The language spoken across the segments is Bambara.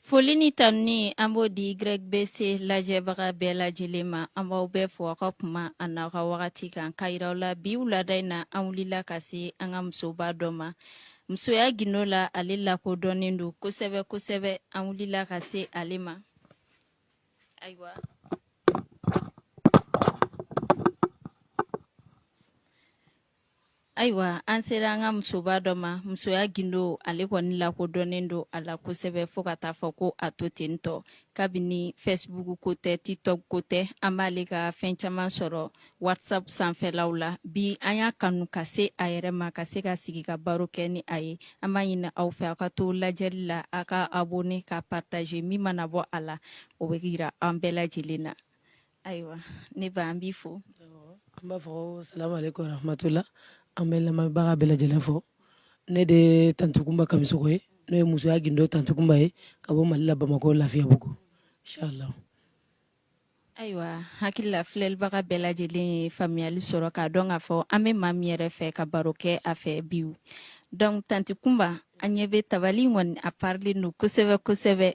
Foli ni tanuni an b'o di YBC lajɛbaga bɛɛ lajɛlen ma an b'aw bɛɛ fo aw ka kuma an'aw ka wagati kan ka yiraw la bi wulada in na an wulila ka se an ka musoba dɔ ma musoya gindo la ale lakodɔnnen don kosɛbɛ kosɛbɛ an wulila ka se ale ma ayiwa Ayiwa an sera an ka musoba dɔ ma musoya gindo ale kɔni lakodɔnnen don a la kosɛbɛ fo ka taa fɔ ko a to ten tɔ kabini Facebook ko tɛ TikTok ko tɛ an b'ale ka fɛn caman sɔrɔ WhatsApp sanfɛlaw la bi an y'a kanu ka se a yɛrɛ ma ka se ka sigi ka baro kɛ ni a ye an b'a ɲini aw fɛ aw ka to lajɛli la a ka abonné ka partager min mana bɔ a la o bɛ yira an bɛɛ lajɛlen na ayiwa ne ba an b'i fo an b'a fɔ salamu aleykum warahmatula an bɛ lamɛnbaga bɛɛ lajɛlen fo ne de tanti Kunba Kamisogo ye n'o ye musoya gindo tanti Kunba ye ka bɔ mali la bamakɔ lafiyabugu inshallah ayiwa hakili la filɛlibaga bɛɛ lajɛlen ye faamuyali sɔrɔ k'a dɔn k'a fɔ an bɛ maa min yɛrɛ fɛ ka baro kɛ a fɛ bi donc tanti Kunba an ɲɛ bɛ tabali kɔni a parilen don kosɛbɛ kosɛbɛ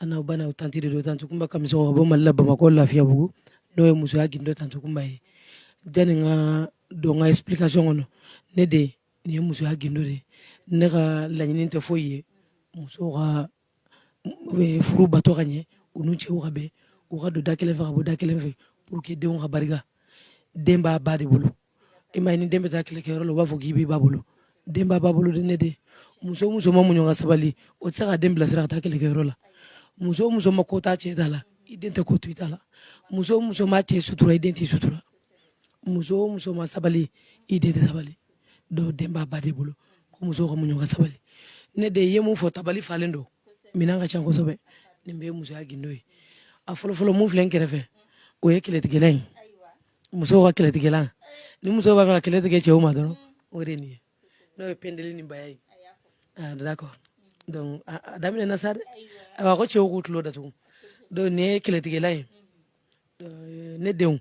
an n'aw bana o tanti de don tanti Kunba Kamisogo ka bɔ mali la bamakɔ lafiyabugu n'o ye musoya gindo tanti Kunba ye jani n ka don n ka explication kɔnɔ ne de nin ye musoya gindo de ye ne ka laɲini tɛ foyi ye musow ka furu bato ka ɲɛ u n'u cɛw ka bɛn u ka don da kelen fɛ ka bɔ da kelen fɛ pour que denw ka barika den b'a ba de bolo i ma ye ni den bɛ taa kɛlɛkɛyɔrɔ la u b'a fɔ k'i b'i ba bolo den b'a ba bolo ne de muso o muso ma muɲu ka sabali o tɛ se ka den bilasira ka taa kɛlɛkɛyɔrɔ la muso o muso ma ko t'a cɛ ta la i den tɛ ko to i ta la muso o muso ma cɛ sutura i den t'i sutura muso o muso ma sabali i den tɛ sabali donc den b'a ba de bolo ko muso ka muɲu ka sabali ne de ye mun fɔ tabali falen don minɛn ka ca kosɛbɛ nin bɛɛ ye musoya gindo ye a fɔlɔfɔlɔ min filɛ n kɛrɛfɛ o ye kɛlɛtigɛlan ye musow ka kɛlɛtigɛlan ni muso b'a fɛ ka kɛlɛ tigɛ cɛw ma dɔrɔn o de nin ye n'o ye pendeli ni baya ye ah, d'accord donc a daminɛna sa dɛ awa ko cɛw k'u tulo datugu donc nin ye kɛlɛtigɛlan ye euh, ne denw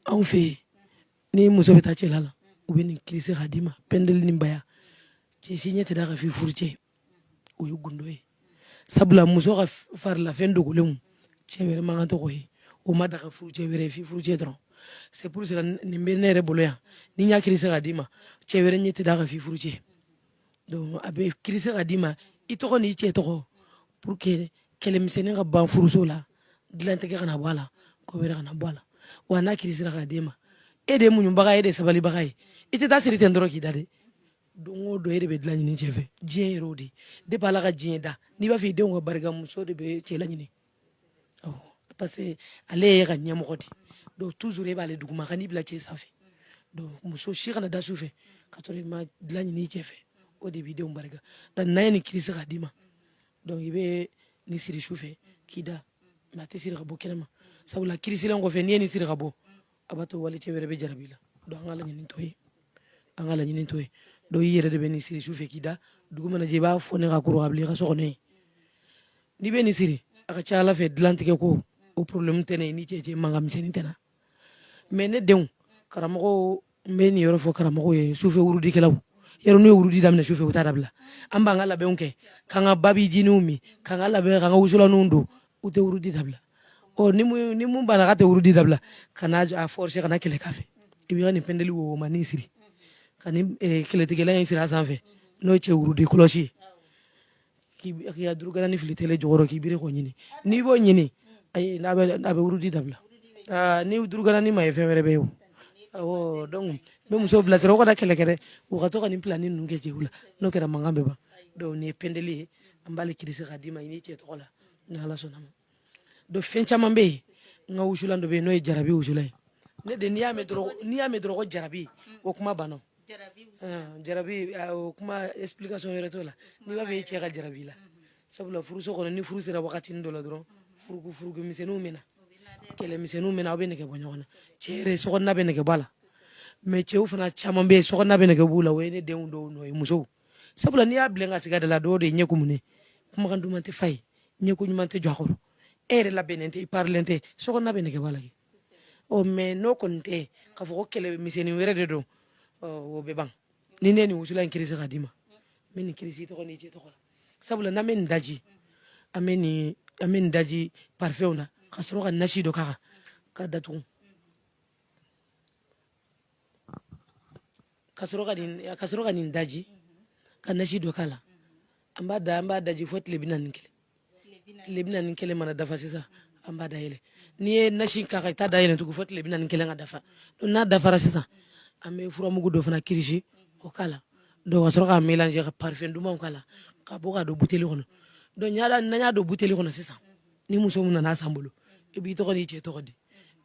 anw fɛ yen ni muso bɛ taa cɛla la u bɛ nin kirisi k'a d'i ma pendeli ni baya cɛ si ɲɛ tɛ d'a kan f'i furu cɛ o ye gundo ye sabula muso ka farilafɛn dogolenw cɛ wɛrɛ man kan tɔgɔ ye o ma daga furu cɛ wɛrɛ f'i furu cɛ dɔrɔn c'est pour cela nin bɛ ne yɛrɛ bolo yan ni n y'a kirise k'a d'i ma cɛ wɛrɛ ɲɛ tɛ d'a kan f'i furu cɛ donc a bɛ kirise k'a d'i ma i tɔgɔ n'i cɛ tɔgɔ pour que kɛlɛmisɛnnin ka ban furuso la dilantigɛ kana bɔ a la ko wɛrɛ kana bɔ a la wa n'a kirisira k'a d'e ma e de ye muɲubaga ye e de ye sabalibaga ye i tɛ t'a siri ten dɔrɔn k'i da dɛ don o don e de bɛ dilan ɲini cɛ fɛ diɲɛ yɛrɛ o de depuis ala ka diɲɛ da n'i b'a fɛ i denw ka barika muso de bɛ cɛ laɲini parce que ale y'i ka ɲɛmɔgɔ de donc toujours e b'ale duguma kan'i bila cɛ sanfɛ donc muso si kana da su fɛ ka sɔrɔ i ma dilan ɲini cɛ fɛ o de b'i denw barika donc n'an ye nin kirisi k'a d'i ma donc i bɛ nin siri su fɛ k'i da mais a tɛ siri ka bɔ kɛnɛma sabula kirisilen kɔfɛ n'i ye nin siri ka bɔ a b'a to walicɛ wɛrɛ bɛ jarabi i la donc an ka laɲini t'o ye an ka laɲini t'o ye donc i yɛrɛ de bɛ nin siri su fɛ k'i da dugu mana jɛ i b'a foni k'a kuru k'a bila i ka so kɔnɔ yen n'i bɛ nin siri a ka ca ala fɛ dilantigɛ ko o problème tɛ na e ni cɛ cɛ mankan misɛnnin tɛ na mais ne denw karamɔgɔw n bɛ nin yɔrɔ fɔ karamɔgɔw ye sufɛ wurudikɛlaw yɔrɔ n'u ye wurudi daminɛ sufɛ u t'a dabila an b'an ka labɛnw kɛ k'an ka babijininw min k'an ka labɛn k'an ka wusulanw don u tɛ wurudi dabila ni min banna k'a tɛ wurudi dabila kana a forcer kana kɛlɛ k'a fɛ i bɛ nin pɛndeli womanin siri ka kɛlɛtigɛlan in siri a sanfɛ n'o ye cɛ wurudi kɔlɔsi k'i ka duruganin fili tele jukɔrɔ k'i biri k'o ɲini n'i b'o ɲini a bɛ wurudi dabila ni duruganin ma ye fɛn wɛrɛ bɛ ye o donc n bɛ musow bilasira u kana kɛlɛ kɛ u ka to ka nin pilani ninnu kɛ cɛw la n'o kɛra mankan bɛ ban donc nin ye pɛndeli ye an b'ale kirisi k'a d'i ma i n'i cɛ tɔgɔ la ni ala sɔnna ma donc fɛn caman bɛ yen n ka wusulan dɔ bɛ yen n'o ye jarabi wusulan ye ne den n'i y'a mɛn dɔrɔn ko jarabi o kuma banna jarabi o kuma explication yɛrɛ t'o la n'i b'a fɛ i cɛ ka jarabi i la sabula furuso kɔnɔ ni furu sera wagati dɔ la dɔrɔn furuku furuku misɛnninw bɛ na kɛlɛ misɛnninw bɛ na aw bɛ nɛgɛ bɔ ɲɔgɔn na cɛ yɛrɛ sokɔnɔna bɛ nɛgɛ bɔ a la mais cɛw fana caman bɛ yen sokɔnɔna bɛ nɛgɛ b'u la o ye ne denw dɔw nɔ ye musow sabula n'i y'a bilen ka sigi a da la dɔw de ye ɲɛ kumunen kumakan duman tɛ f'a ye ɲɛkun ɲuman tɛ jɔ a kɔrɔ e yɛrɛ labɛnnen tɛ i parilen tɛ sokɔnɔna bɛ nɛgɛ b'a la kɛ ɔ mais n'o kɔni tɛ k'a fɔ ko kɛlɛ misɛnnin wɛrɛ de don o bɛ ban ni ne ye nin wusulan in kirisi k'a d'i ma n bɛ nin kirisi i tɔgɔ n'i cɛ tɔgɔ la sabula n'an bɛ nin daji an bɛ nin an bɛ nin daji parifɛnw na ka sɔrɔ ka nasi dɔ k'a kan k'a datugu ka sɔrɔ ka nin ka sɔrɔ ka nin daji ka nasi dɔ k'a la an b'a da an b'a daji fo tile bi naani ni kelen tile bi naani ni kelen mana dafa sisan an b'a dayɛlɛ n'i ye nasi k'a kan i t'a dayɛlɛ tugun fo tile bi naani ni kelen ka dafa n'a dafara sisan an bɛ furamugu dɔ fana kirisi k'o k'a la donc ka sɔrɔ k'a mélanger ka parfum dumanw k'a la k'a bɔ k'a don buteli kɔnɔ donc voilà n'an y'a don buteli kɔnɔ sisan ni muso min nana a san bolo i b'i tɔgɔ n'i cɛ tɔgɔ di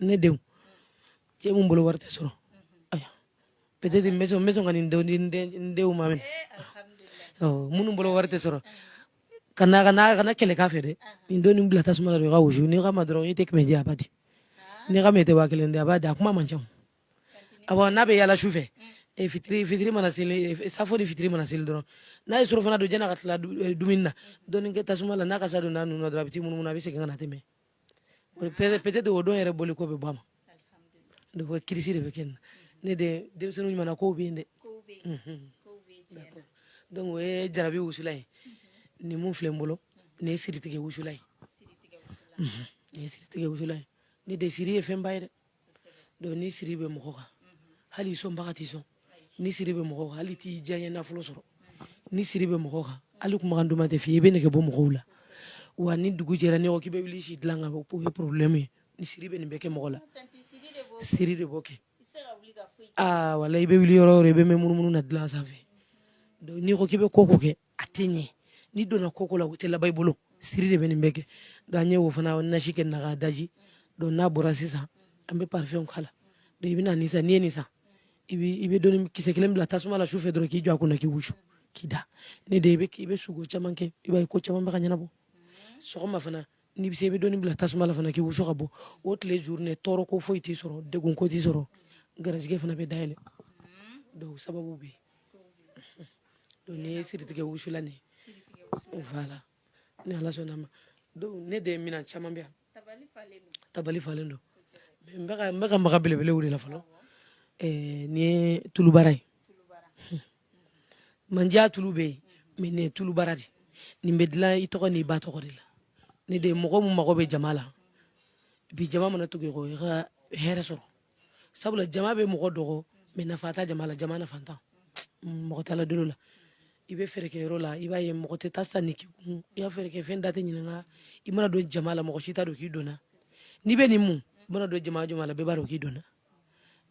ne denw cɛ mun bolo wari tɛ sɔrɔ aya peut-être n bɛ sɔn n bɛ sɔn ka nin denw di n denw ma mɛn minnu bolo wari tɛ sɔrɔ kana kana kana kɛlɛ k'a fɛ dɛ nin don nin bila tasuma la dɔrɔn i k'a wusu n'i k'a ma dɔrɔn i tɛ kɛmɛ di a b'a di n'i k'a ma i tɛ waa kelen di a b'a di a kuma man ca awɔ n'a bɛ yaala su fɛ e fitiri fitiri mana seli safo ni fitiri mana seli dɔrɔn n'a ye surafana dun jɛna ka tila dumuni na dɔɔni kɛ tasuma la n'a kasa don n'a nun na dɔrɔn a bɛ t'i munumunu a bɛ segin ka na tɛmɛ peut-être o don yɛrɛ bɔli ko bɛ bɔ a ma donc kirisi de bɛ kɛ nin na ne de denmisɛnninw ɲumanna ko bɛ yen dɛ donc o ye jarabi wusula ye nin mun filɛ n bolo nin ye siritigɛ wusula ye nin ye siritigɛ wusula ye ne de siri ye fɛnba ye dɛ donc ni siri bɛ mɔgɔ kan hali sɔnbaga t'i sɔn ni siri bɛ mɔgɔ kan hali t'i diyaɲɛ nafolo sɔrɔ ni siri bɛ mɔgɔ kan hali kumakan duman tɛ f'i ye i bɛ nɛgɛ bɔ mɔgɔw la wa ni dugu jɛra n'i ko k'i bɛ wuli si dilan kan o ye problème ye ni siri bɛ nin bɛɛ kɛ mɔgɔ la siri de b'o kɛ wala i bɛ wuli yɔrɔ o yɔrɔ i bɛ mɛn munumunu na dilan sanfɛ n'i ko k'i bɛ ko ko kɛ a tɛ ɲɛ n'i donna ko ko la o tɛ laban i bolo siri de bɛ nin bɛɛ kɛ donc an ye o fana nasi kɛ na k'a daji donc n'a bɔra sisan an bɛ parfum k'a la donc i bɛ na nin san n'i ye nin san i bɛ dɔɔni kisɛ kelen bila tasuma la su fɛ dɔrɔn k'i jɔ a kunna k'i wusu k'i da ne de i bɛ i bɛ sugo caman kɛ i b'a ye ko caman bɛ ka ɲɛnabɔ sɔgɔma fana n'i bɛ se i bɛ dɔɔni bila tasuma la fana k'i wusu ka bɔ o tile journée tɔɔrɔ ko foyi t'i sɔrɔ degun ko t'i sɔrɔ garijɛgɛ fana bɛ dayɛlɛ donc sababu bɛ yen donc nin ye siritigɛ wusula nin ye voilà ni ala sɔnna a ma donc ne de minan caman bɛ yan tabali falen don n bɛ ka n bɛ ka maga belebelew de la fɔlɔ nin ye tulubara ye mandiya tulu bɛ yen mais nin ye tulubara de nin bɛ dilan i tɔgɔ n'i ba tɔgɔ de la ne de mɔgɔ mun mago bɛ jama la bi jama mana tugu i kɔ i ka hɛrɛ sɔrɔ sabula jama bɛ mɔgɔ dɔ kɔ mais nafa t'a jama la jama nafantan mɔgɔ t'ala deli o la i bɛ feerekɛyɔrɔ la i b'a ye mɔgɔ tɛ taa sanni k'i kun i ka feerekɛfɛn da tɛ ɲininka i mana don jama la mɔgɔ si t'a dɔn k'i donna n'i bɛ nin mun i mana don jama jama la bɛɛ b'a dɔn k'i donna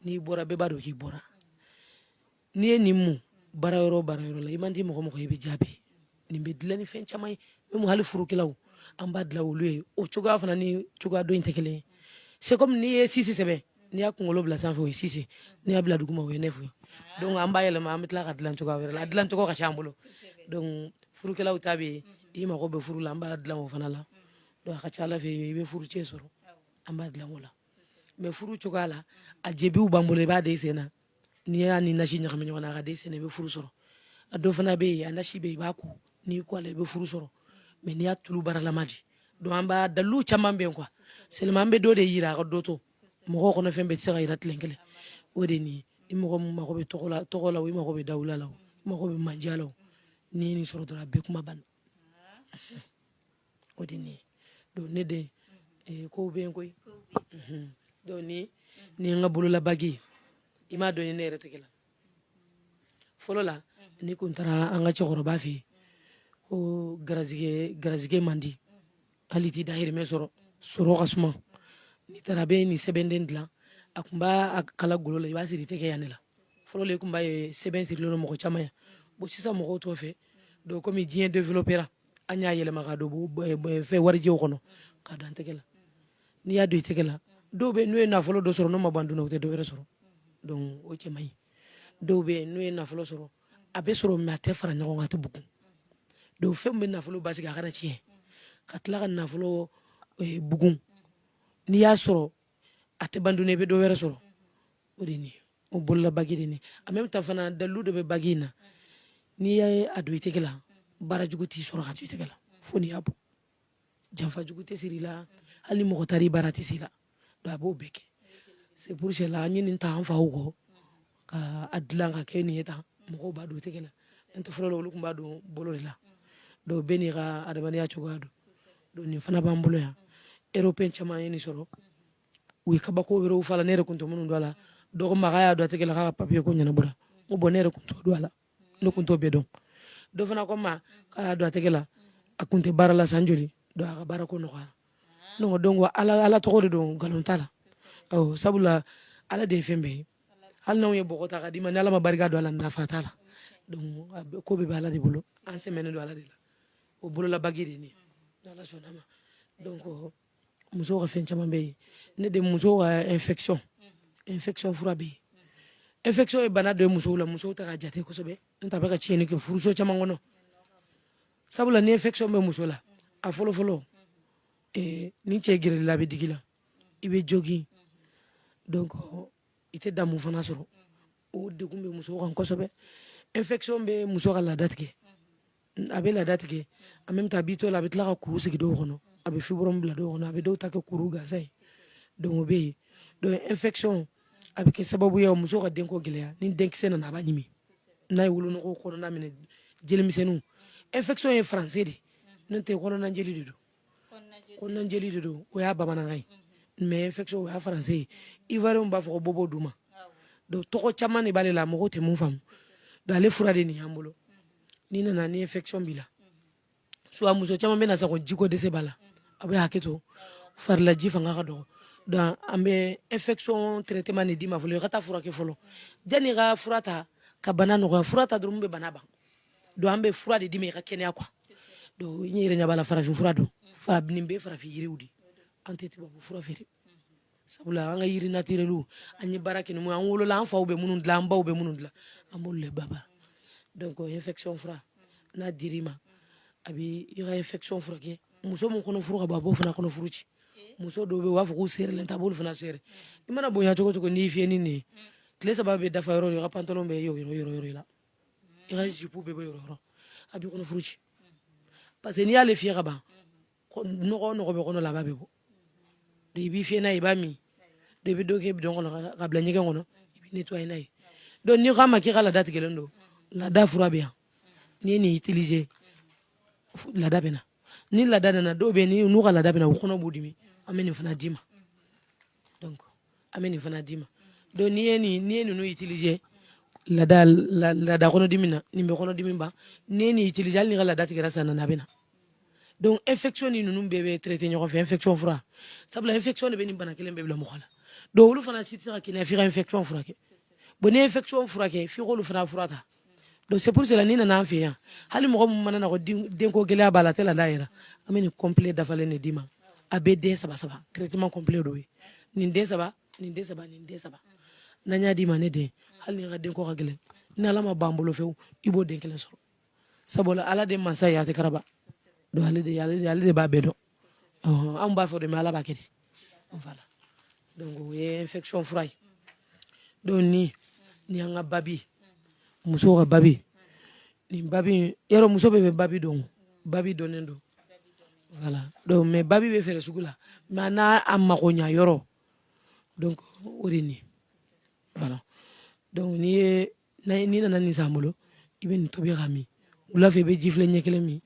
n'i bɔra bɛɛ b'a dɔn k'i bɔra n'i ye nin mun baara yɔrɔ baara yɔrɔ la i man di mɔgɔ mɔgɔ i bɛ jaabi nin bɛ dilan ni fɛn caman ye même hali furukɛlaw an b'a dilan olu ye o cogoya fana ni cogoya dɔ in tɛ kelen ye c'est comme n'i ye sisi sɛbɛn n'i y'a kunkolo bila sanfɛ o ye sisi n'i y'a bila duguma o ye nɛfu ye donc an b'a yɛlɛma an bɛ tila k'a dilan cogoya wɛrɛ la a dilan cogo ka ca an bolo donc furukɛlaw ta bɛ yen i mago bɛ furu la an b'a dilan o fana la donc a ka ca ala fɛ i bɛ furu cɛ sɔrɔ an b'a dilan o la mais furu cogoya la a jebiw b'an bolo i b'a de sen na n'i y'a ni nasi ɲagami ɲɔgɔn na a ka da i sen na i bɛ furu sɔrɔ a dɔ fana bɛ yen a nasi bɛ yen i b'a ko n'i ko a la i bɛ furu sɔrɔ mais n'i y'a tulu baaralama di donc an b'a dalilu caman bɛ yen quoi seulement an bɛ dɔ de yira a ka dɔ to mɔgɔw kɔnɔ fɛn bɛɛ tɛ se ka yira tile kelen o de nin ye mɔgɔ min mago bɛ tɔgɔ la tɔgɔ la o i mago bɛ dawula la o i mago bɛ manja la o n'i ye nin sɔrɔ dɔrɔn a bɛɛ kuma banna o de nin donc ne den eh, kow bɛ yen koyi mhm. donc nin ye n ka bololabagi i ma dɔ ye ne yɛrɛ tɛgɛ la fɔlɔ la n'i kun taara an ka cɛkɔrɔba fɛ yen ko garizigɛ garizigɛ man di hali i t'i dahirimɛ sɔrɔ sɔrɔ ka suma n'i taara a bɛ nin sɛbɛnden dilan a kun b'a kala golo la i b'a siri i tɛgɛ yan de la fɔlɔ la i kun b'a ye sɛbɛn sirilen don mɔgɔ caman yan bon sisan mɔgɔw t'o fɛ donc komi diɲɛ développera an y'a yɛlɛma k'a don fɛn warijɛw kɔnɔ k'a don an tɛgɛ la n'i y'a don i tɛgɛ la dɔw bɛ n'u ye nafolo dɔ sɔrɔ n'o ma ban dun na u tɛ dɔ wɛrɛ sɔrɔ donc o cɛ man ɲi dɔw bɛ n'u ye nafolo sɔrɔ a bɛ sɔrɔ mais a tɛ fara ɲɔgɔn kan a tɛ bugun donc fɛn min bɛ nafolo basigi a kana tiɲɛ ka tila ka nafolo eh, bugun n'i y'a sɔrɔ a tɛ ban dun na i bɛ dɔ wɛrɛ sɔrɔ o de nin o bolola bagi de nin en même temps fana dalilu de bɛ bagi in na n'i y'a don i tɛgɛ la baara jugu t'i sɔrɔ k'a to i tɛgɛ la fo n'i y'a bɔ janfa jugu tɛ siri i la hali ni mɔgɔ taar'i baara tɛ se i la donc a b'o bɛɛ kɛ c'est pour cela an ye nin ta an faw kɔ ka a dilan ka kɛ nin ye tan mɔgɔw b'a don tɛgɛ la n tɛ fɔlɔ la olu kun b'a don bolo de la donc bɛɛ n'i ka adamadenya cogoya don donc nin fana b'an bolo yan européen caman ye nin sɔrɔ u ye kabako wɛrɛw fɔ a la ne yɛrɛ kun tɛ minnu dɔn a la dɔ ko n ma k'a y'a don a tɛgɛ la k'a ka papiye ko ɲɛnabɔra n ko bon ne yɛrɛ kun t'o dɔn a la ne kun t'o bɛɛ dɔn dɔ fana ko n ma k'a y'a don a tɛgɛ la a kun tɛ baara la san joli donc a ka baara ko nɔgɔyara ne ko donc ala ala tɔgɔ de don nkalon t'a la ɔ sabula ala de ye fɛn bɛɛ ye hali n'anw ye bɔgɔ ta k'a d'i ma ni ala ma barika don a la nafa t'a la donc ko bɛɛ bɛ ala de bolo an sɛmɛnen don ala de la o bololabagi de ye nin ye n'ala sɔnn'a ma donc musow ka fɛn caman bɛ yen ne den musow ka infection infection fura bɛ yen infection ye bana dɔ ye musow la musow tɛ k'a jate kosɛbɛ n t'a bɛ ka tiɲɛni kɛ furuso caman kɔnɔ sabula ni infection bɛ muso la a fɔlɔ fɔlɔ eh, ni cɛ gɛrɛl'i la a bɛ digi i la i bɛ jogin donc i tɛ damu fana sɔrɔ o degun bɛ musow kan kosɛbɛ infection bɛ muso ka laada tigɛ a bɛ laada tigɛ en même temps a b'i to la a bɛ tila ka kuru sigi dɔw kɔnɔ a bɛ fibrome bila dɔw kɔnɔ a bɛ dɔw ta kɛ kuru gansan ye donc o bɛ yen donc infection a bɛ kɛ sababu ye muso ka denko gɛlɛya ni denkisɛ nana a b'a ɲimi n'a ye wolonugu kɔnɔna minɛ jelimisɛnninw infection ye français de n'o tɛ kɔnɔnajeli de don kɔnɔnajeli de don o y'a bamanankan ye mais infection o y'a français ye ivoirienw b'a fɔ ko bobo duma donc tɔgɔ caman de b'ale la mɔgɔ tɛ mun faamu donc ale fura de nin y'an bolo n'i nana ni infection b'i la soit muso caman bɛ na sa ko jiko dɛsɛ b'a la a bɛ hakɛ to farilaji fanga ka dɔgɔ donc an bɛ infection traitement nin d'i ma fɔlɔ i ka taa furakɛ fɔlɔ jani i ka fura ta ka bana nɔgɔya fura ta dɔrɔn bɛ bana ban donc an bɛ fura de d'i ma i ka kɛnɛya quoi donc n yɛrɛ ɲɛ b'a la farafin fura don farafin bɛ farafin yiriw de an tɛ tubabu fura feere sabula an ka yiri naturelw an ye baara kɛ ni an wolola an faw bɛ minnu dilan an baw bɛ minnu dilan an b'olu le baba donc infection fura n'a dir'i ma a bɛ i ka infection furakɛ muso min kɔnɔ furu ka bon a b'o fana kɔnɔ furu ci muso dɔw bɛ yen u b'a fɔ k'u serilen ta a b'olu fana seri i mana bonya cogo cogo n'i fiyɛ ni nin ye tile saba bɛ dafa yɔrɔ o yɔrɔ i ka pantalon bɛ yɔrɔ yɔrɔ i la i ka jipu bɛɛ bɛ yɔrɔ yɔrɔ a b'i kɔnɔ furu ci parce que n'i y'ale fiyɛ ka ban nɔgɔ nɔgɔ bɛ kɔnɔ la a b'a bɛɛ bɔ i b'i fiyɛ n'a ye i b'a min i bɛ dɔ kɛ bidɔn kɔnɔ ka bila ɲɛgɛn kɔnɔ i bɛ nettoyer n'a ye donc n'i k'an ma k'i ka laada tigɛlen don laada fura bɛ yan n'i ye nin utiliser laada bɛ na ni laada nana dɔw bɛ yen n'u ka laada bɛ na u kɔnɔ b'u dimi an bɛ nin fana d'i ma donc an bɛ nin fana d'i ma donc n'i ye ninnu utiliser laada kɔnɔdimi na nin bɛ kɔnɔdimi ban n'i ye nin utiliser hali n'i ka laada tigɛra san nana a bɛ na donc infection ni ninnu bɛɛ bɛ traiter ɲɔgɔn fɛ infection fura sabula infection de bɛ nin bana kelen bɛɛ bila mɔgɔ la donc olu fana si tɛ se ka kɛnɛya f'i ka infection furakɛ bon n'i ye infection furakɛ f'i k'olu fana fura ta donc c'est pour cela n'i nana an fɛ yan hali mɔgɔ min mana na ko denko gɛlɛya b'a la a tɛ laada yɛrɛ an bɛ nin complet dafalen de d'i ma a bɛ den saba saba traitement complet dɔ ye nin den saba nin den saba nin den saba n'an y'a d'i ma ne den hali n'i ka denko ka gɛlɛn ni ala ma ban bolo fewu i b'o den kelen sɔrɔ sabula ala de mansa ye a tɛ karaba donc ale de b'a bɛɛ dɔn anw b'a fɔ de mais ala b'a kɛ de voilà donc o ye infection fura ye donc ni ni an ka babi musow ka babi nin babi yɔrɔ muso bɛɛ bɛ babi dɔn babi dɔnnen don voilà donc mais babi bɛ feere sugu la mais a n'a a mago ɲa yɔrɔ donc o de nin voilà donc n'i ye n'i nana nin san an bolo i bɛ nin tobi ka min wula fɛ i bɛ ji filɛ ɲɛ kelen min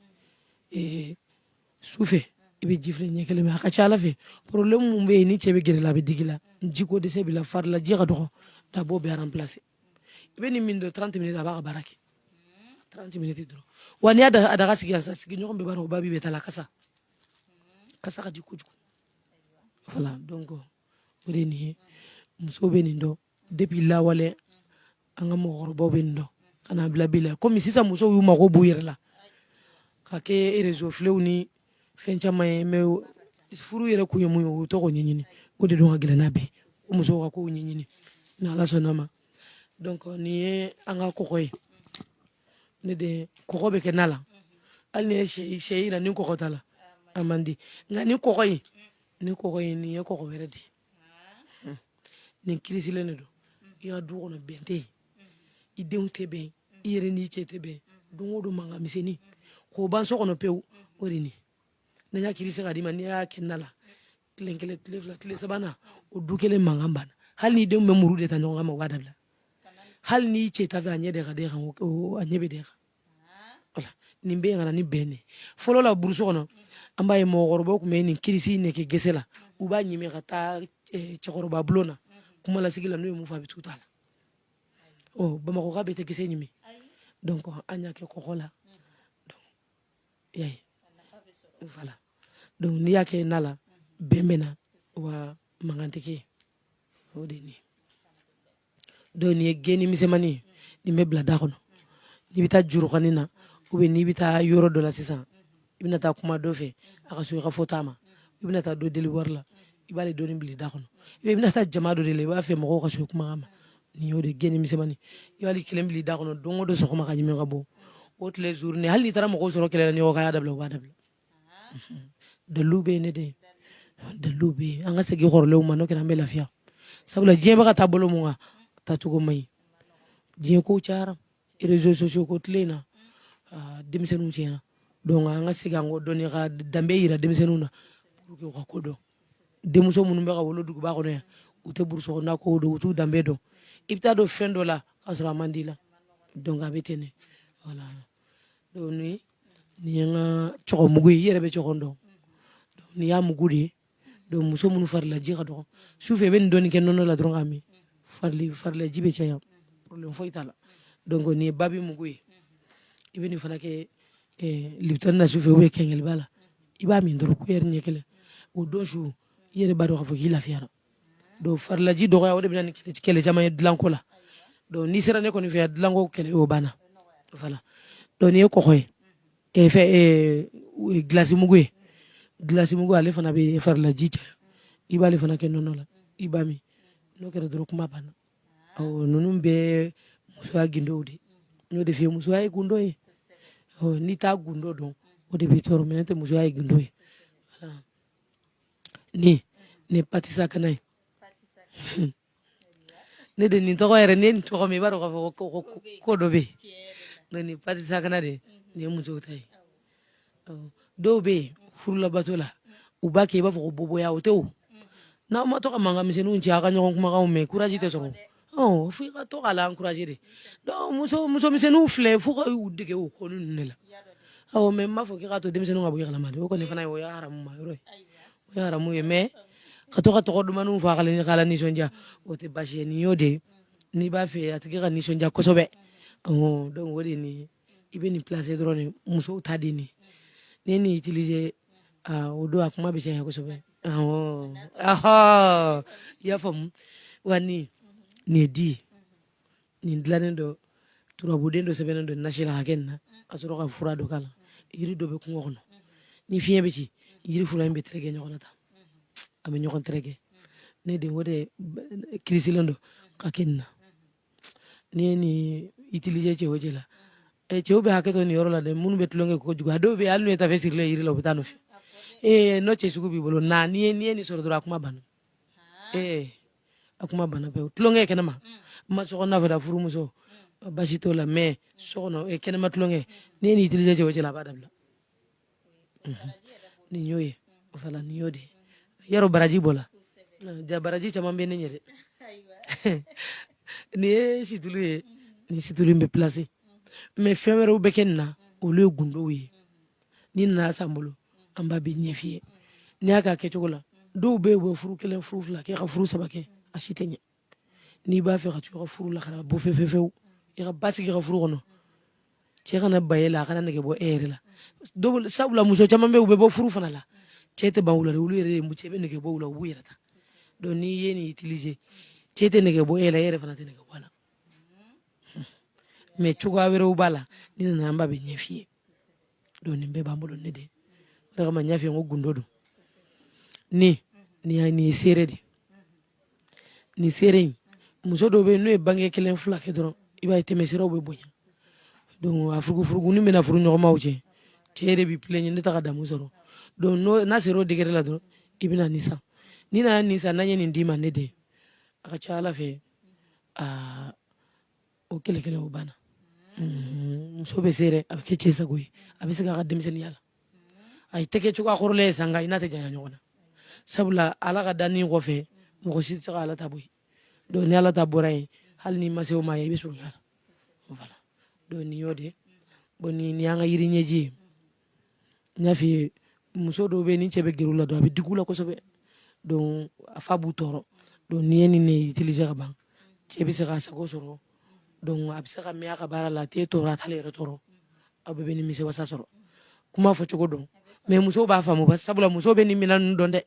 su fɛ i bɛ ji filɛ ɲɛ kelen min a ka ca a la fɛ problème mun bɛ yen ni cɛ bɛ gɛrɛ la a bɛ digi la jiko dɛsɛ b'i la farilaji ka dɔgɔ a b'o bɛɛ remplacer i bɛ nin min dɔrɔn trente minutes a b'a ka baara kɛ trente minutes dɔrɔn wa n'i y'a daga sigi sisan sigiɲɔgɔn bɛɛ b'a dɔn ko babi bɛ ta la kasa kasa ka di kojugu voilà donc o de nin ye muso bɛ nin dɔn depuis lawale an ka mɔgɔkɔrɔbaw bɛ nin dɔn ka n'a bila bi la komi sisan musow y'u mago b'u yɛrɛ la ka kɛ réseau filɛ ni fɛn caman ye mais furu yɛrɛ kun ye mun ye u t'o ko ɲɛɲini o de dɔn ka gɛlɛn n'a bɛɛ ko musow ka kow ɲɛɲini ni ala sɔnn'a ma donc nin ye an ka kɔgɔ ye ne de kɔgɔ bɛ kɛ na la hali n'i ye sɛ yiran ni kɔgɔ t'a la a man di nka nin kɔgɔ in ni kɔgɔ ye nin ye kɔgɔ wɛrɛ de ye hmm. nin kirisilen de don hmm. i ka du kɔnɔ bɛn tɛ yen i denw tɛ bɛn i yɛrɛ n'i cɛ tɛ bɛn don o don mankan misɛnnin k'o ban so kɔnɔ pewu o de nin n'an y'a kirisi k'a d'i ma n'i y'a kɛ na la tile kelen tile fila tile sabanan o du kɛlɛ mankan banna hali n'i denw bɛ muru de ta ɲɔgɔn kama o b'a dabila hali n'i cɛ t'a fɛ a ɲɛ de ka d'e kan a ɲɛ bɛ d'e kan nin bɛ yen ka na ni bɛn de fɔlɔ la burusi kɔnɔ an b'a ye mɔgɔkɔrɔbaw tun bɛ nin kirisi nin kɛ gɛsɛ la u b'a ɲimi ka ka taa eh, cɛkɔrɔba bulon na kuma lasigi la n'u ye min fɔ a bɛ t'u ta la ɔ bamakɔka bɛɛ tɛ gɛsɛ ɲimi donc an y'a kɛ kɔgɔ la y'a ye voilà donc n'i y'a kɛ na la bɛn bɛ na wa mankan tɛ kɛ o de ye nin ye donc nin ye geni misɛnmani ye nin bɛ bila da kɔnɔ n'i bɛ taa jurukani na u bɛ n'i bɛ taa yɔrɔ dɔ la sisan i bɛna taa kuma dɔ fɛ a ka sɔn i ka fɔta ma i bɛna taa dɔ deli wari la i b'ale dɔɔni bil'i da kɔnɔ i bɛna taa jama dɔ de la i b'a fɛ mɔgɔw ka sɔn kuma ma nin y'o de geni misɛnmani i b'ale kelen bil'i da kɔnɔ don o don sɔgɔma k'a ɲimi ka bɔ o tile journée hali n'i taara mɔgɔw sɔrɔ kɛlɛ la n'i ko u k'a dabila u b'a dabila dalu bɛ yen dɛ dalu bɛ yen an ka segin kɔrɔlenw ma n'o kɛra an bɛ lafiya sabula diɲɛ bɛ ka taa bolo min kan taacogo man ɲi diɲɛ ko cayara réseaux sociaux ko tile in na denmisɛnninw tiɲɛna donc an ka segin an kɔ dɔɔni ka danbe yira denmisɛnninw na pour que u ka ko dɔn denmuso minnu bɛ ka wolo duguba kɔnɔ yan u tɛ burusi kɔnɔna kow dɔn u t'u danbe dɔn i bɛ taa don fɛn dɔ la k'a sɔrɔ a man d'i la donc a bɛ ten de voilà donc nin nin ye n ka cɔgɔnmugu ye i yɛrɛ bɛ cɔgɔn dɔn nin y'a mugu de ye donc muso minnu farilaji ka dɔgɔ sufɛ i bɛ nin dɔɔni kɛ nɔnɔ la dɔrɔn k'a min farili farilaji bɛ caya problème foyi t'a la donc nin ye babi mugu ye i bɛ nin fana kɛ eh, libitɔni na sufɛ ou bien kɛnkɛliba la i b'a min dɔrɔn kuyɛri ɲɛ kelen o don su i yɛrɛ b'a dɔn k'a fɔ k'i lafiyara donc farilaji dɔgɔya o de bɛ na ni kɛlɛ caman ye dilanko la donc n'i sera ne kɔni fɛ dilanko kɛlɛ o banna voilà donc nin ye kɔgɔ ye e fɛn e gilasi mugu ye gilasi mugu ale fana bɛ farilaji caya i b'ale fana kɛ nɔnɔ la i b'a min n'o kɛra dɔrɔn kuma banna awɔ ninnu bɛɛ musoya gundow de n y'o de f'i ye musoya ye gundo ye n'i t'a gundo dɔn o de b'i tɔɔrɔ mais n'o tɛ musoya ye gundo ye nin ye patisakana ye ne de nin tɔgɔ yɛrɛ ne nin tɔgɔ min i b'a dɔn k'a fɔ ko dɔ bɛ yen nin patisakana de nin ye musow ta ye dɔw bɛ yen furu labato la u b'a kɛ i b'a fɔ ko boboya o tɛ o n'aw ma to ka mankan misɛnninw ci aw ka ɲɔgɔn kumakanw mɛn courage tɛ sɔrɔ fo i ka to k'a la encourager de donc muso misɛnw filɛ fo i ka u dege o ko ninnu de la mais n m'a fɔ k'i k'a to denmisɛnninw ka bɔ i kalama dɛ o kɔni fana o ye haramu ye mais ka to ka tɔgɔ dumanninw fɔ k'a lanisɔndiya o tɛ basi ye nin y'o de ye n'i b'a fɛ a tigi ka nisɔndiya kosɛbɛ donc o de nin ye i bɛ nin placer dɔrɔn de musow ta de nin n'i ye nin utiliser o don a kuma bɛ caya kosɛbɛ i y'a faamu wa nin ne den nin dilannen don turabuden dɔ sɛbɛnnen don nasi la ka kɛ nin na ka sɔrɔ ka fura dɔ k'a la yiri dɔ bɛ kungo kɔnɔ ni fiɲɛ bɛ ci yiri fura in bɛ tɛrɛkɛ ɲɔgɔn na tan a bɛ ɲɔgɔn tɛrɛkɛ ne den o de kirisilen don ka kɛ nin na n'i ye nin utiliser cɛ o cɛ la ɛ cɛw bɛ hakɛ to nin yɔrɔ la dɛ minnu bɛ tulonkɛ kojugu a dɔw bɛ yen hali n'u ye tafe sirilen yiri la u bɛ taa a nɔfɛ ee n'o cɛ sugu b'i bolo na n'i ye n'i ye nin sɔrɔ dɔrɔn a kuma banna ee a kuma banna pewu tulonkɛ kɛnɛma mais sokɔnɔna fɛ da furumuso basi t'o la mais so kɔnɔ kɛnɛma tulonkɛ n'i ye nin utiliser cɛ o cɛ la a b'a dabila nin y'o ye voilà nin y'o de ye yɔrɔ baraji b'o la jaa baraji caman bɛ ne ɲɛ dɛ nin ye situlu ye nin situlu in bɛ placer mais fɛn wɛrɛw bɛ kɛ nin na olu ye gundow ye n'i nana a san an bolo an b'a bɛɛ ɲɛf'i ye n'i y'a k'a kɛcogo la dɔw bɛ yen u bɛ furu kelen furu fila kɛ ka furu saba kɛ a si tɛ ɲɛ n'i b'a fɛ ka to i ka furu la kana bɔ fefefewu i ka basigi i ka furu kɔnɔ cɛ kana ban e la a kana nɛgɛ bɔ e yɛrɛ la dɔw sabula muso caman bɛ yen u bɛ bɔ furu fana la cɛ tɛ ban u la dɛ olu yɛrɛ de cɛ bɛ nɛgɛ bɔ u la u b'u yɛrɛ ta donc n'i ye nin utiliser cɛ tɛ nɛgɛ bɔ e la e yɛrɛ fana tɛ nɛgɛ bɔ a la mais cogoya wɛrɛw b'a la n'i nana an b'a bɛɛ ɲɛf'i ye donc nin bɛɛ b'an bolo ne den o de kama n y'a f'i ye n ko gundo don ni nin y'a nin ye serré de nin serré in muso dɔw bɛ yen n'u ye bange kelen fila kɛ dɔrɔn i b'a ye tɛmɛsiraw bɛ bonya donc a furugufurugunin bɛ na furu ɲɔgɔnmaw cɛ cɛ de b'i plaigner ne tɛ ka damu sɔrɔ donc n'o n'a sera o degré la dɔrɔn i bɛna nin san n'i nana nin san n'an ye nin d'i ma ne den a ka ca ala fɛ aa o kɛlɛ kɛlɛ o banna mm-hmm. muso bɛ serré a bɛ kɛ cɛ sago ye a bɛ segin a ka denmisɛnninya la a tɛ kɛ cogoya kɔrɔlen ye sanga i n'a tɛ janya ɲɔgɔn na sabula ala ka danni kɔfɛ mɔgɔ si tɛ se ka ala ta bɔ yen donc ni ala ta bɔra yen hali n'i ma se o ma ye i bɛ surunya a la voilà donc nin y'o de ye bon nin y'an ka yiri ɲɛji ye n y'a f'i ye muso dɔw bɛ yen ni cɛ bɛ gɛrɛ u la dɔrɔn a bɛ digi u la kosɛbɛ donc a fa b'u tɔɔrɔ donc n'i ye nin ne utiliser ka ban cɛ bɛ se k'a sago sɔrɔ donc a bɛ se ka mɛn a ka baara la a t'e tɔɔrɔ a t'ale yɛrɛ tɔɔrɔ aw bɛɛ bɛ nimisi wasa sɔrɔ kuma fɔcogo don mais musow b'a faamu ba sabula musow bɛ nin minɛn ninnu dɔn dɛ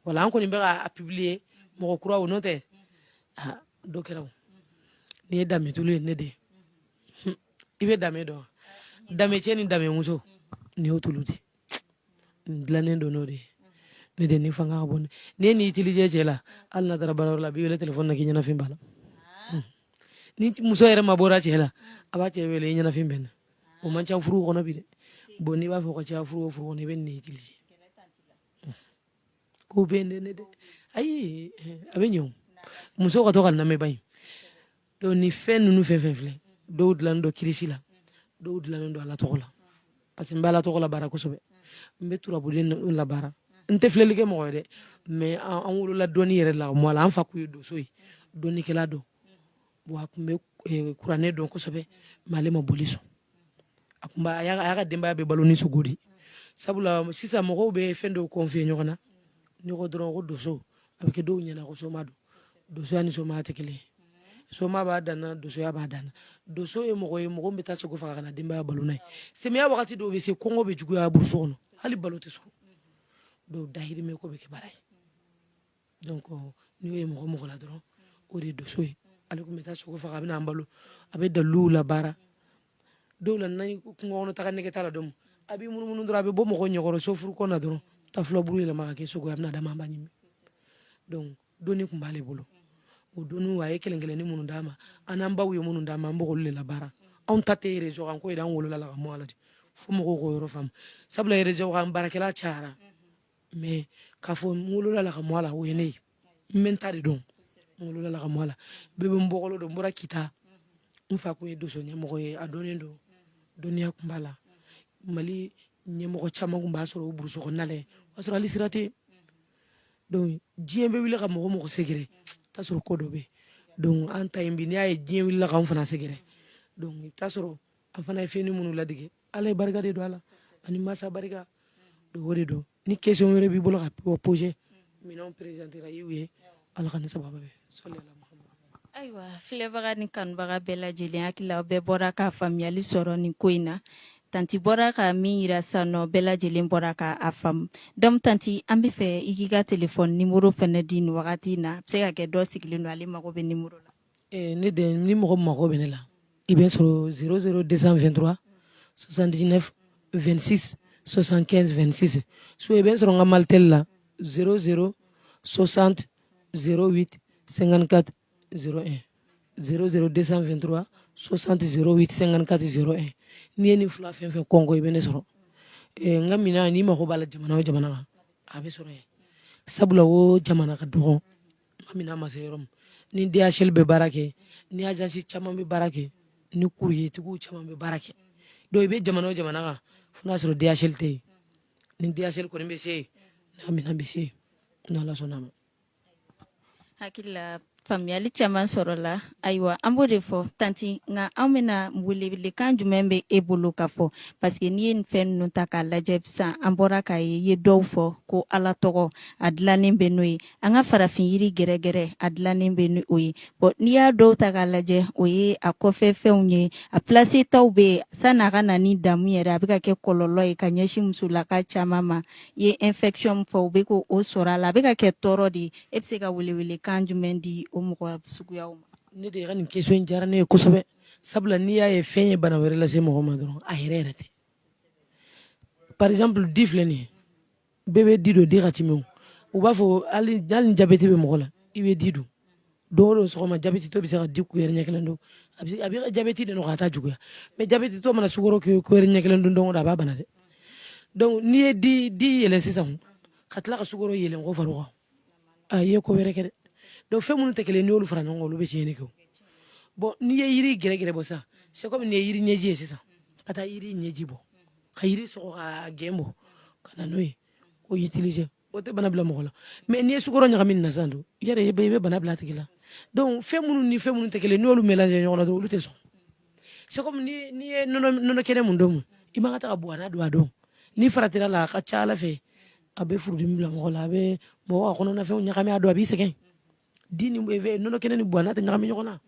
wala an kɔni bɛ ka a publier mɔgɔ kuraw n'o tɛ dɔ kɛra o nin ye damɛtulu ye ne de ye i bɛ damɛ dɔn damɛcɛ ni damɛmuso nin y'o tulu di nin dilannen don n'o de ye ne de nin fanga ka bon n'i ye nin utiliser cɛ la hali n'a taara baarayɔrɔ la a b'i wele telefɔni na k'i ɲɛnafin b'a la hmm. ni muso yɛrɛ mabɔra cɛ la a b'a cɛ wele i ɲɛnafin bɛ n na o man ca furu kɔnɔ bi dɛ bon n'i b'a fɔ ka caya furu o furu kɔnɔ i bɛ nin de utiliser hmm. k'o bɛ ne ne dɛ ayi a bɛ ɲɛ o muso ka to ka lamɛnba in donc ni fɛn ninnu fɛn fɛn filɛ dɔw dilannen don kirisi la dɔw dilannen don ala tɔgɔ la parce que n bɛ ala tɔgɔ labaara kosɛbɛ n bɛ turabuden labaara n tɛ filɛli kɛ mɔgɔ ye dɛ mais an wolola dɔnni yɛrɛ la mɔ la an fa kun ye donso ye dɔnnikɛla don wa a kun bɛ eh, kuranɛ dɔn kosɛbɛ mais ale ma boli sɔn a kun b'a a y'a ka denbaya bɛ balo ni sogo de sabula sisan mɔgɔw bɛ fɛn dɔw confier ɲɔgɔn na n'i ko dɔrɔn ko donso a bɛ kɛ dɔw ɲɛna ko soma don donsoya ni somaya tɛ kelen soma b'a danna donsoya b'a danna donso ye mɔgɔ ye mɔgɔ bɛ taa sogo faga ka n'a denbaya balo n'a ye samiya wagati dɔw bɛ se kɔngɔ bɛ juguya burusi kɔnɔ hali balo tɛ sɔrɔ dɔw dahirimɛ ko bɛ kɛ baara ye donc n'o ye mɔgɔ mɔgɔ la dɔrɔn o de ye donso ye ale tun bɛ taa sogo faga a bɛ n'an balo a bɛ daliluw labaara dɔw la n'a kungo kɔnɔ taga nege t'a la dɔn a b'i munumunu dɔrɔn a bɛ bɔ mɔgɔ ɲɛkɔrɔ sofuru kɔnɔ dɔrɔn ta filaburu yɛlɛma ka kɛ sogo ye a bɛ na d'an ma an b'a ɲimi donc dɔnni tun b'ale bolo o dɔnniw a ye kelen kelenni minnu d'an ma an n'an baw ye minnu d'an ma an b'olu de labaara anw ta tɛ réseau kan ko ye an wolola la ka mɔ a la de fo mɔgɔw k'o yɔrɔ faamu sabula réseau kan baarakɛla cayara mais k'a fɔ n wolola la ka mɔ a la o ye ne ye n bɛ n ta de dɔn n wolola la ka mɔ a la bɛɛ bɛ n bɔkolo dɔn n bɔra kita n fa kun ye doso ɲɛmɔgɔ ye a dɔnnen don dɔnniya kun b'a la mali ɲɛmɔgɔ caman kun b'a sɔrɔ o burusi kɔnɔna la yen o y'a sɔrɔ hali sira tɛ donc diɲɛ bɛ wuli ka mɔgɔ mɔgɔ sɛgɛrɛ t'a sɔrɔ ko dɔ bɛ donc an ta in bi n'i y'a ye diɲɛ wulila k'an fana sɛgɛrɛ donc i bɛ t'a sɔrɔ an fana ye fɛnni minnu ladege ala ye barika de don a la ani masa barika donc o de don ni question wɛrɛ b'i bolo ka poser minɛnw présentera i y'u ye Ala k'an ni sababu bɛn ayiwa filɛbaga ni kanubaga bɛɛ lajɛlen hakili la bɛɛ bɔra ka faamuyali sɔrɔ nin ko in na tanti bɔra ka min yira sisan o bɛɛ lajɛlen bɔra ka a faamu donc tanti an b'a fɛ i k'i ka telefɔni nimoro fɛnɛ di nin wagati in na a bɛ se ka kɛ dɔ sigilen don ale mago bɛ nimoro la ne den ni mɔgɔ mago bɛ ne la i bɛ n sɔrɔ 00223 79 26 75 26 so i bɛ n sɔrɔ n ka malitɛli la 00 60 08 54 01 00223 60 08 54 01 n'i ye nin fila fɛn o fɛn kɔnkɔn i bɛ ne sɔrɔ n ka minɛn n'i mago b'a la jamana o jamana a bɛ sɔrɔ sabula o jamana ka dɔgɔ n ka minɛn ma se yɔrɔ min ni DHL bɛ baara kɛ ni agence caman bɛ baara kɛ ni courrier tigiw caman bɛ baara kɛ donc i bɛ jamana o jamana kan fo n'a sɔrɔ DHL tɛ yen ni DHL kɔni bɛ se yen n ka minɛn bɛ se yen n'Ala sɔnna a ma. hakili la faamuyali caman sɔrɔla ayiwa an b'o de fɔ tanti nka an bɛna welewelekan jumɛn bɛ e bolo ka fɔ paseke n'i ye nin fɛn ninnu ta k'a lajɛ sisan an bɔra k'a ye i ye dɔw fɔ ko ala tɔgɔ a dilannen bɛ n'o ye an ka farafin yiri gɛrɛgɛrɛ a dilannen bɛ ni o ye bon n'i y'a dɔw ta k'a lajɛ o ye a kɔfɛ fɛnw ye a plase taw bɛ yen sanni a ka na ni damu yɛrɛ a bɛ ka kɛ kɔlɔlɔ ye ka ɲɛsin musolaka caman ma i ye infection min fɔ u bɛ k'o sɔrɔ a la a bɛ ka kɛ tɔɔrɔ de ye e bɛ se ka welewelekan jumɛn di o mɔgɔ suguyaw ma ne den ka nin question in diyara ne ye kosɛbɛ sabula n'i y'a ye fɛn ye bana wɛrɛ lase mɔgɔ ma dɔrɔn a yɛrɛ yɛrɛ tɛ par exemple di filɛ nin ye bɛɛ bɛ di dun di ka timi o u b'a fɔ hali ni jabɛti bɛ mɔgɔ la i bɛ di dun don o don sɔgɔma jabɛtitɔ bɛ se ka di kuyɛri ɲɛ kelen dun a b'i ka jabɛti de nɔgɔya a t'a juguya mais jabɛtitɔ mana sukoro kuyɛri ɲɛ kelen dun don o don a b'a bana dɛ donc n'i ye di yeelen sisan ka tila ka sukoro yeelen k'o far'o kan i ye ko wɛrɛ kɛ dɛ donc fɛn minnu tɛ kelen n'olu fara ɲɔgɔn kan olu bɛ tiɲɛni kɛ bon n'i ye yiri gɛrɛgɛrɛ bɔ sisan c'est comme n'i ye yiri ɲɛji ye sisan ka taa yiri ɲɛji bɔ ka yiri sɔgɔ ka gɛn bɔ ka na n'o ye k'o utiliser o tɛ bana bila mɔgɔ la mais n'i ye sukoro ɲagami na sisan dun i yɛrɛ i bɛ bana bila a tigi la donc fɛn minnu ni fɛn minnu tɛ kelen n'olu mélange ɲɔgɔn na dɔrɔn olu tɛ sɔn c'est comme ni n'i ye nɔnɔ kɛnɛ min don min i man ka taga buwana dun a don n'i faratira a la a ka ca ala fɛ a bɛ furudimi bila mɔgɔ la a bɛ mɔgɔ ka kɔnɔnafɛnw ɲagami a don a b'i sɛgɛn di ni nɔnɔ kɛnɛ ni buwana tɛ ɲagami ɲɔgɔn na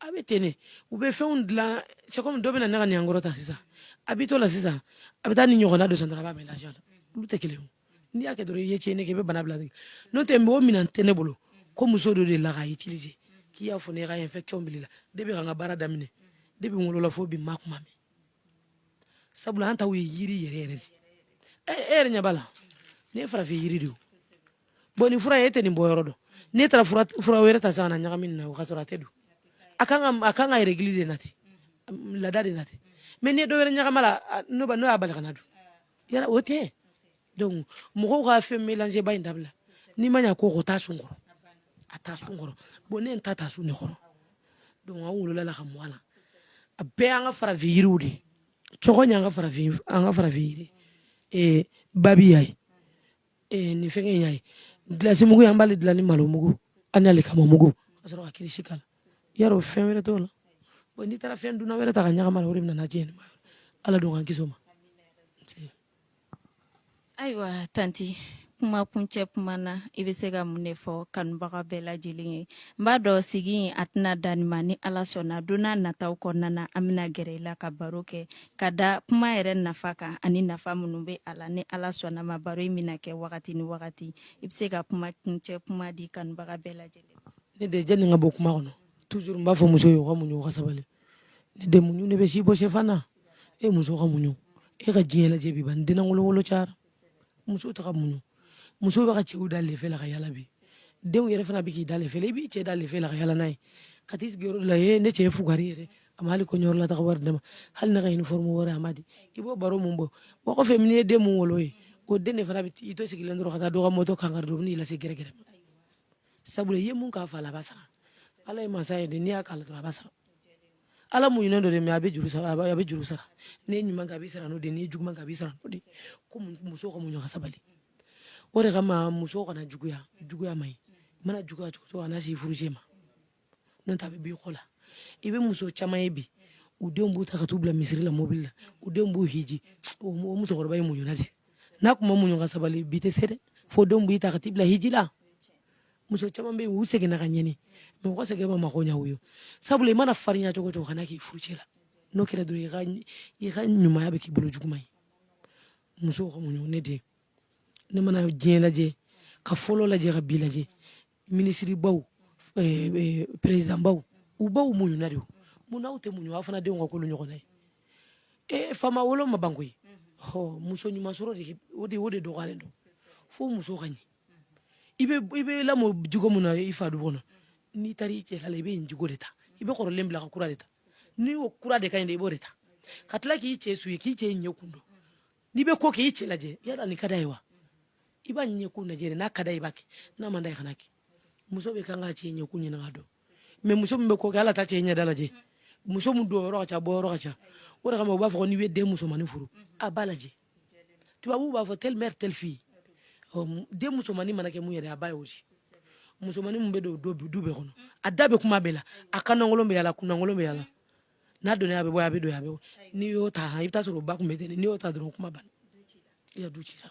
a bɛ ten de u bɛ fɛnw dilan c'est comme dɔ bɛna ne ka nin kɔrɔ ta sisan a b'i to la sisan a bɛ taa nin ɲɔgɔnna dɔ san dɔrɔn a b'a mélanger a la olu tɛ kelen ye n'i y'a kɛ dɔrɔn i ye tiɲɛni kɛ i bɛ bana bila de kɛ n'o tɛ mɔgɔ minan tɛ ne bolo ko muso dɔ delila k'a utiliser k'i y'a fɔ ne ye k'a ye infection bil'i la depuis n ka baara daminɛ depuis n wolola fo bi n m'a kuma mɛn sabula an taw ye yiri yɛrɛ yɛrɛ de ye e yɛrɛ ɲɛ b'a la nin ye farafin yiri de ye bon nin fura ye e tɛ nin bɔ yɔrɔ dɔn n'e taara fura wɛrɛ ta sisan ka na ɲagami nin na o ka sɔrɔ a tɛ don a kan ka a kan ka règle de nati laada de nati mais n'i ye dɔ wɛrɛ ɲagam'a la n'o y'a bali ka na dun yala o tɛ donc mɔgɔw ka fɛn mélange ba in dabila n'i ma ɲa ko o t'a sun kɔrɔ a t'a sun kɔrɔ bon ne ta t'a sun ne kɔrɔ donc an wolola a la ka mɔ a la a bɛɛ an ka farafin yiriw de cogoya an ka farafin yiri ee babi y'a ye eh, nin fɛngɛ in y'a ye gilasi mugu an b'ale dilan ni malo mugu ani alikama mugu ka sɔrɔ ka kirisi k'a la yarɔ fɛn wɛrɛ t'o la bon n'i taara fɛn dunan wɛrɛ ta k'a ɲagami a la o de bɛ nana tiɲɛ ma ala don k'an kisi o ma ayiwa tanti kuma kuncɛ kuma na i bɛ se ka mun de fɔ kanubaga bɛɛ lajɛlen ye n b'a dɔn sigi in a tɛna dan nin ma ni ala sɔnna don nataw kɔnɔna na an bɛna gɛrɛ i la ka baro kɛ ka da kuma yɛrɛ nafa kan ani nafa minnu bɛ a la ni ala sɔnna a ma baro in bɛna kɛ wagati ni wagati i bɛ se ka kuma kuncɛ kuma di kanubaga bɛɛ lajɛlen ne de jɛ nin ka bɔ kuma kɔnɔ toujours n b'a fɔ muso ye ka muɲu ka sabali ne den muɲu de bɛ si bɔ sɛfan na e muso ka muɲu e ka diɲɛ lajɛ bi ban n denna wolowolo cayara muso tɛ ka muɲu muso bɛ ka cɛw da lefe la ka yala bi denw yɛrɛ fana bɛ k'i da lefe la i b'i cɛ da lefe la ka yala n'a ye ka t'i sigiyɔrɔ la ye ne cɛ ye fugari yɛrɛ a ma hali kɔɲɔyɔrɔ la taga wari da n ma hali ne ka uniforme wɛrɛ a m'a di i b'o baro mun bɔ wa kɔfɛ min ye den mun wolo ye o den de fana bɛ i to sigilen dɔrɔn ka taa dɔ ka mɔtɔ kan kari dɔrɔn n'i lase gɛrɛgɛrɛ ma sabula i ye mun k'a fa la a b'a sara ala ye mansa ye dɛ n'i y'a k'a la dɔrɔn a b'a sara ala muɲunen don dɛ mais a bɛ juru sara a bɛ juru sara n'i ye ɲuman kɛ a b'i sara n'o de n'i ye juguman kɛ a b'i sara n'o de ko muso ka muɲu ka sabali o de kama muso kana juguya juguya man ɲi i mana juguya cogo cogo kana s'i furucɛ ma n'o tɛ a bɛ b'i kɔ la i bɛ muso caman ye bi u denw b'u ta ka t'u bila misiri la mobili la u denw b'u hiji o musokɔrɔba ye muɲuna de n'a tun ma muɲu ka sabali bi tɛ se dɛ fo denw b'i ta ka t'i bila hiji la muso caman bɛ yen u sɛgɛnna ka ɲɛni mais u ka sɛgɛn ma mako ɲa u ye sabula i mana farinya cogo cogo kana k'i furucɛ la n'o kɛra dɔrɔn i ka ɲumanya bɛ k'i bolo juguman ye muso ka muɲu ne den ne mana diɲɛ lajɛ ka fɔlɔ lajɛ ka bi lajɛ minisiribaw eh, eh, perezidanbaw u baw muɲuna de mun n'aw tɛ muɲu aw fana denw ka k'olu ɲɔgɔnna ye e faama wolo ma ban koyi muso ɲuman sɔrɔ de o de dɔgɔyalen don fo muso ka ɲɛ i bɛ lamɔ jogo min na i fa du kɔnɔ n'i taara i cɛ la i bɛ nin jogo de ta i bɛ kɔrɔlen bila ka kura de ta ni jogo kura de ka ɲi i b'o de ta ka tila k'i cɛ su ye k'i cɛ ɲɛ kun dɔn n'i bɛ ko kɛ i cɛ lajɛ yala nin ka d'a ye wa i b'a ɲɛ kun lajɛ n'a ka d'a ye i b'a kɛ n'a man d'a ye i kan'a kɛ muso bɛɛ kan k'a cɛ ɲɛ kun ɲini k'a dɔn mais muso min bɛ ko kɛ hali a t'a cɛ ɲɛda lajɛ muso min don yɔrɔ ka ca bɔ yɔrɔ ka ca o de kama u b'a fɔ n'i bɛ den musomanin furu a b'a lajɛ tubabu b'a fɔ telle mère telle fille den musomannin mana kɛ mun ye dɛ a ba y'o di musomannin min bɛ don du bɛɛ kɔnɔ a da bɛ kuma bɛɛ la a kanankolon bɛ yala kunankolon bɛ yala n'a donna a bɛ bɔ a bɛ don a bɛ bɔ n'i y'o ta i bɛ t'a sɔrɔ o ba kun bɛ ten n'i y'o ta dɔrɔn kuma banna i ka du cira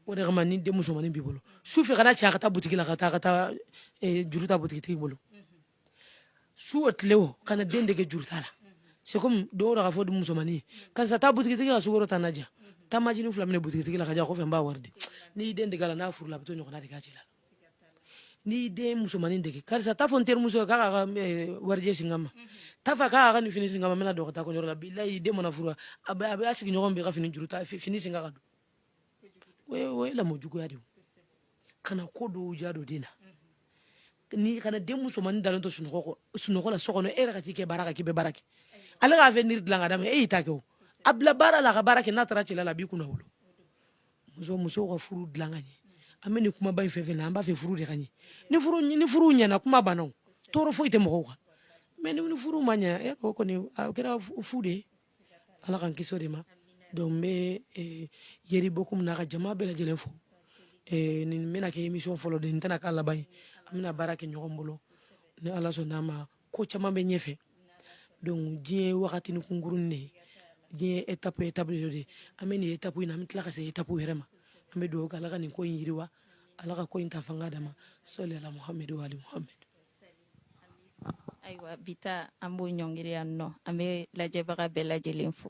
o de kama ni den musomannin b'i bolo su fɛ kan'a ci a ka taa butigi la ka taa ka taa juru ta butigitigi bolo su o tile o kana den dege juru ta la c'est comme dɔw da k'a fɔ musomanni ye karisa taa butigitigi ka sukoro ta n'a di yan taa majini fila minɛ butigitigi la k'a di yan kɔfɛ n b'a wari di n'i y'i den dege a la n'a furula a bɛ t'o ɲɔgɔnna de k'a cɛ la n'i y'i den musomanni dege karisa t'a fɔ n terimuso ye k'a k'a ka warijɛ singa n ma t'a fɔ k'a ka nin fini singa n ma n bɛn'a don ka taa kɔɲɔyɔrɔ la bilayi den mana furu a bɛ a bɛ a sigiɲɔgɔn bɛɛ ka fini juru ta fini singa k'a don o ye lamɔ juguya de ye kana ko dɔw diya don den na ni kana den musomannin dalen to sunɔgɔ kɔ sunɔgɔ la so kɔnɔ e yɛrɛ ka t'i kɛ baara kan k'i bɛ baara kɛ ale ka avenir dilan ka d'a ma e y'i ta kɛ o a bila baara la a ka baara kɛ n'a taara cɛla la a b'i kunnawolo muso musow ka furu dilan ka ɲɛ an bɛ nin kumaba in fɛn fɛn na an b'a fɛ furu de ka ɲɛ ni furu ni furu ɲɛna kuma banna o tɔɔrɔ foyi tɛ mɔgɔw kan mais ni furu ma ɲɛ o kɔni a kɛra fu de ye ala k'an kisi o de ma donc n bɛ eh, yeri bokum n'a ka jama bɛɛ lajɛlen fo eh, nin bɛna kɛ émission fɔlɔ de ye nin tɛna k'a laban ye an bɛna baara kɛ ɲɔgɔn bolo ni ala sɔnna a ma ko caman bɛ ɲɛfɛ donc diɲɛ ye wagatini kunkuruni de ye diɲɛ ye étape étape de ye an bɛ nin étape in na an bɛ tila ka se étape wɛrɛ ma an bɛ dugawu kɛ ala ka nin ko in yiriwa ala ka ko in ta fanga d'a ma sɔli ala muhamadu wa ali muhamadu Ayiwa bi ta an b'o ɲɔngiri yan nɔ an bɛ lajɛbaga bɛɛ lajɛlen fo